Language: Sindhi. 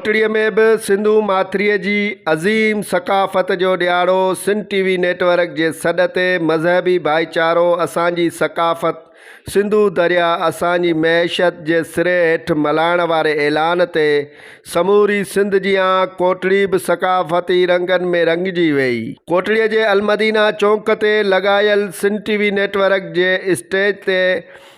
ٺٽڙي ۾ به سنڌو ماٿري جي عظيم ثقافت جو ڏياڙو Sindh T V network جي سڏ تي مذهبي ڀائيچارو اسان جي ثقافت سنڌو دريا اسان جي معيشت جي سري هيٺ ملهائڻ واري اعلان تي سموري سنڌ جيان ڪوٽڙي به ثقافتي رنگن ۾ رنگجي وئي ڪوٽڙي جي المدينه چونڪ تي لڳايل Sindh T V network جي اسٽيج تي